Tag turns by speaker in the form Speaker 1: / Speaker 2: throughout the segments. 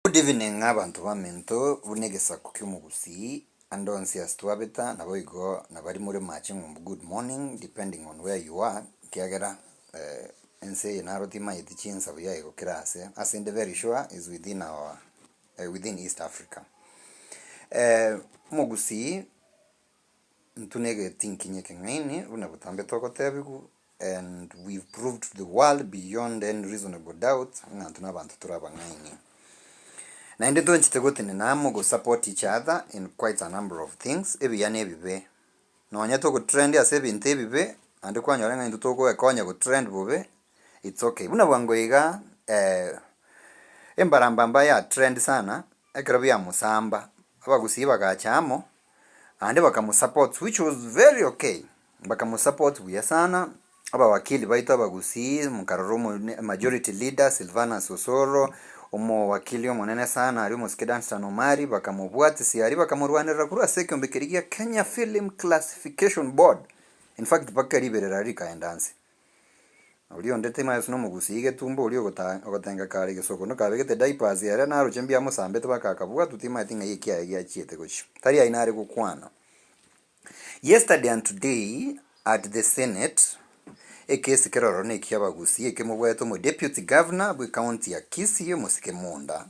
Speaker 1: Good evening abanto baminto buna egesaku kiomogusii and onsi ase twabeta naboigo nabari more mache ng'umbu good morning depending on where you are ekiagera ense eye naro timanyeti chinsabo yaye gokera ase asende very sure is within our within East Africa omogusii Intwe negetinkinyi ekeng'aini buna botambe togotebigwa, and we have proved to the world beyond any reasonable doubt ng'a intwe nabanto tore abang'aini. Naende toanchete gotenena amo go support each other in quite a number of things, ebiya na ebibe. Nonya togotrend ase ebinto ebibe, naende kwanyora ng'a intwe togoekonya gotrend bobe, it's okay. Buna bwango iga, embarambamba yatrend sana ekero biamosamba, abagusii bagacha amo, and bakamosupport which was very okay bakamosupport buya sana abawakili baito abagusii mukarora omo majority leader Silvanus Osoro omowakili omonene sana aria omosike Dunstan Omari bakamobwatisia aria bakamorwanerera korwa ase ekiombe keria gia Kenya Film Classification Board in fact mpaka riberera rikaenda nse Oria onde timayesu nomogusii getumbo oria ogotaa ogotenga kare gesoko nokabegete diapers ere naroche mbuya amosambete baka akabwatwa timaeti ng'ai ekiaye giachiete gochia tari aye nare gokwana Yesterday and today at the senate ekesi kero ororo nekia abagusii ekemobwate omo deputy governor bwe county ya Kisii omosike Munda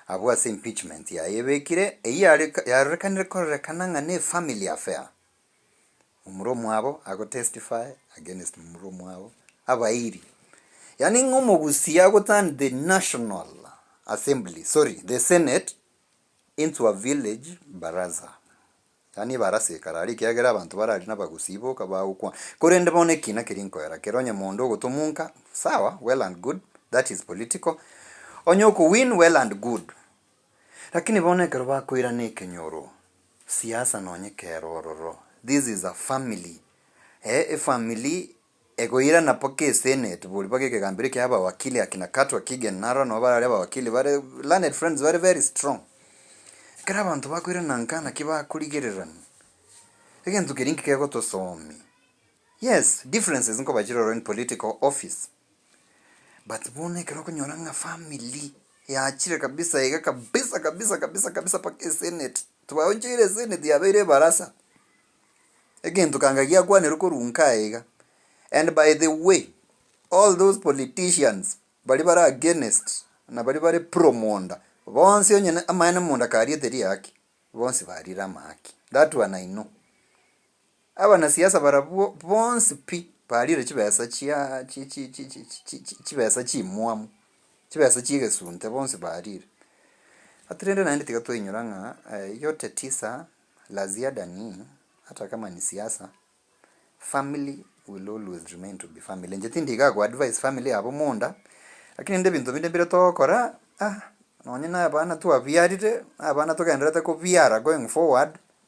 Speaker 1: abwo ase impeachment yaye ebekire eyio yare yarorekanire kororekana ng'a ne family affair. omura omwabo agotestify against omura omwabo abairi yaani ng'a omogusii agoturn the national assembly sorry the senate into a village baraza yaani ebarasa ekare aria ekiagera abanto bare aria nabagusii boka bagokwana korende bono ekina keria nkoera kere onye mondo ogotomunka sawa well and good that is political onye okowin well and good Lakini bono ekero bakoirana ekenyoro, siasa nonye kero ororo, this is a family eh, efamily egoirana paka esenate bori paka ekegambero ekia abawakili akina Katwa Kigen narora nabo barare abawakili bare learned friends bare very strong. Ekero abanto bakoirana nka naki bakorigererania, egento keria inki kegotosoomi? Yes, differences nkoba chire ororo in political office. But bono ekero okonyora ng'a family yachire kabisa iga kabisa kabisa kabisa kabisa mpaka eseneti, twaochoire eseneti yabeire ebarasa, egento kanga giakwanerwe korwa inka aye iga, and by the way all those politicians baria bare against na baria bare pro Monda, bonsi onye na amaene Monda kariete riaaki, bonsi barire amaaki, that one I know. Abanasiasa barabwo bonsi pi bariire chibesa chia chibesa chimwamu, chibesa chi'egesunte bonsi bariire. Ati rende naende tiga twainyora ng'a yote tisa la ziada ni hata kama ni siasa, family will always remain to be family. Inche tindigaa go advise family yabo monda, lakini rende ebinto binde mbire togokora nonye na abana twabiarire, na abana togendererete kobiara going forward.